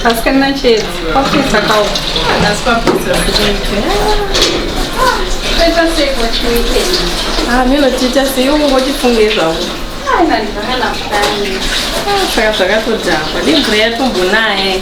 Asikana chete kwapesa kawo asi kwapesa minotiita ah, sei ungotifunge zvavo saka zvakatodhakwa nemvura yatombonaye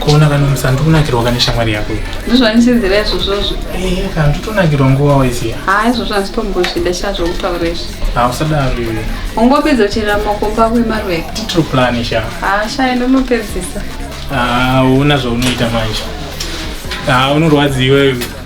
kuona kana musa ndikunakirwa kane shamwari yako ndizvanisizira izvozvozvo eh, kana nditonakirwa nguva waiziva ha izvozvo handitombozvida sha zvokutaura izvi ha usadaro iwe ungopedza kuchera makomba ako emaruva titro plan sha ha sha ende unopedzisa ha una zvaunoita manje ha unorwadziwa iwe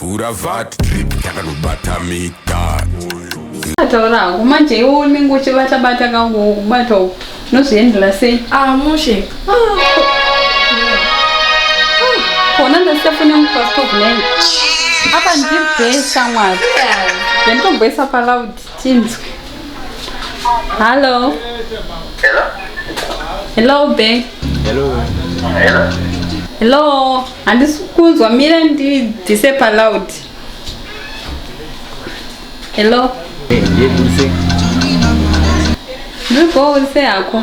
vhura vat drip takanobata mita taura hangu manje iwo unenge uchibata bata kangu kubata uku unozviendera sei ah mushe kona ndasiyafuna mufastovnai apa ndibhesa mwari ndanditobhesa palaudi Tinzwe. Hello. Hello. Hello be. Hello. Hello. Hello. Handisi kunzwa mira ndibvise paloud. Hello. Eh, ndiye kurise. Ndiri kurise yako.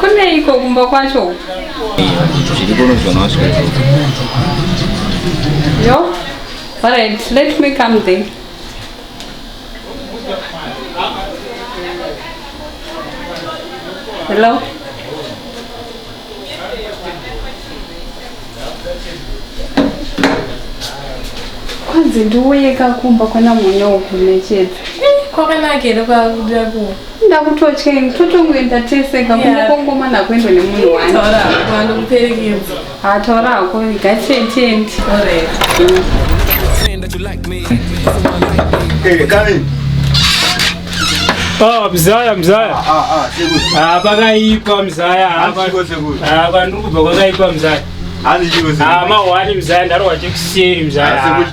kuneiko kumba kwacho yo alright let me come there hello kwanzi ndiuyeka kumba kwana mune uku nechete kwakanaka here kwakuda ku ndakutotya ini totongoenda tese kakunge kongoma nakuendwa nemunhu wani taura hako andokuperekedza ha taura hako gatietendi Hey, come in. Oh, mzaya mzaya ah, ah, ah, pakaipa mzaya apa ndiri kubva kwakaipa mzaya amahwani mzaya ndarohwa chekuseri mzayachero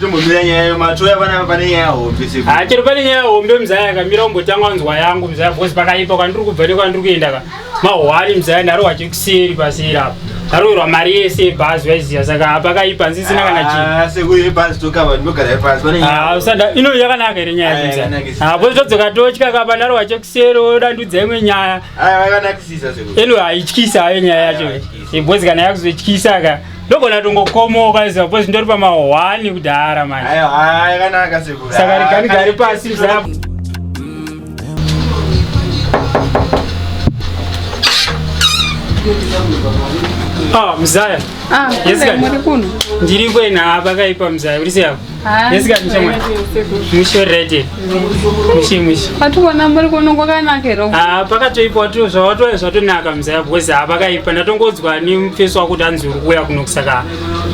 pane nyaya hombe mzaya akamira umbotanga nzwa yangu mzaya bcause pakaipa kwandiri kubva nekwandiri kuenda ka mahwani mzaya ndari wachekuseri paseri apa ndaroverwa mari yese yebhazi vaiziva saka hapa kaipa nzisina kana ah, chiino ah, yakanaka here nyaya yakuzahapo ah, todzoka totya kapa ndari wachekuseri odandudza imwe nyaya eno haityisa hayo nyaya yacho bhozi kana yakuzotyisa ka ndogona tongokomoka iziva bhozi ndori pamahwani kudhara manje saka rigani gari pasi zaa Ah, mzaya. Ah, yes, guys. Ndiri kwena hapa kaipa mzaya. Uri seyapo? Ah, yes, guys, mshamwa. Musho ready. Mushi mushi. Watu wana muri kuno kwakanaka hero. Ah, pakatoipa watu zvawato zvatonaka mzaya because hapa kaipa ndatongodzwa ni mfeso wako tanzi uri kuya kuno kusaka.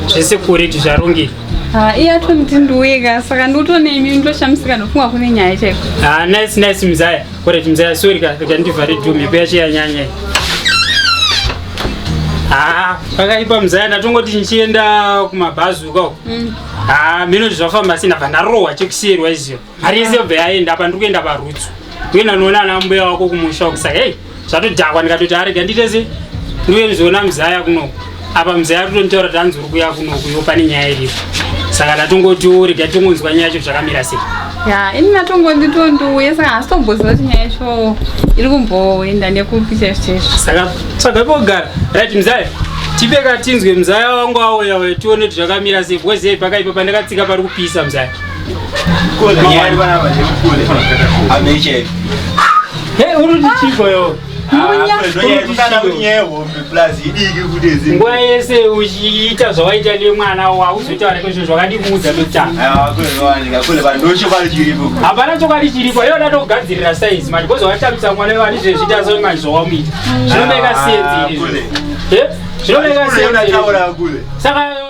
Zvese kuri tizvarongi. Ah, iye atoniti ndiweka saka ndotone imi ndoshamisika ndofunga kune nyaya chaiko ah, nice nice mzaya koreti mzaya sori ka rega ndivhare dhu mhepo yacho yanyanya ah, pakaipa mzaya ndatongoti ndichienda kumabhazi uko mm. ah, mino zvafamba sina bva ndarohwa chekusiyerwa izio mari yese yobva yaenda apa ndiri kuenda parutsu kuenda noona ana mbuya wako kumusha uku saka hei zvatodhakwa ndikatoti arega nditese ndiuye ndizoona muzaya kunoku apa muzaya totonditaura tanzi uri kuya kunoku iwo pane nyaya iripo saka ndatongoti urega tongonzwa nyaya yacho zvakamira sei ya ini natongoti tondiuye saka hasi tomboziva kuti nyaya yacho iri kumboenda nekupi chaizvo chaizvo saka tsvaga pogara right muzaya tipe katinzwe muzaya wangu auya uya tione kuti zvakamira sei bcause pakaipa pandakatsika pari kupisa muzaya nguva yese uchiita zvawaita nemwana hauzotaura kozvo zvakandikuudza tokutangahapana chokwadi chiripo iyo datokugadzirira saizi manje kozi watambisa mwana wevani zvezvita so manje zvawamuita zvinomeka senzi izvi zvinomeka senzi saka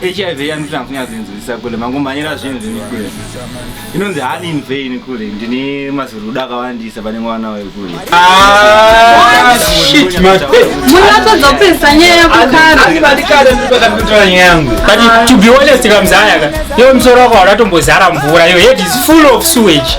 hiv yanotanga kunyatsoinzwisisa kule mangomhanyira zvinhu zvini kule inonzi hani in vain kule ndine mazirudo akawandisa pane mwana wayo kule munatadza kupesa nyaya yakukaraaikare ndipakatotora nyaya yangu but to be honest kamzayaka yo msoro wako hauratombozara mvura yo head is full of sewage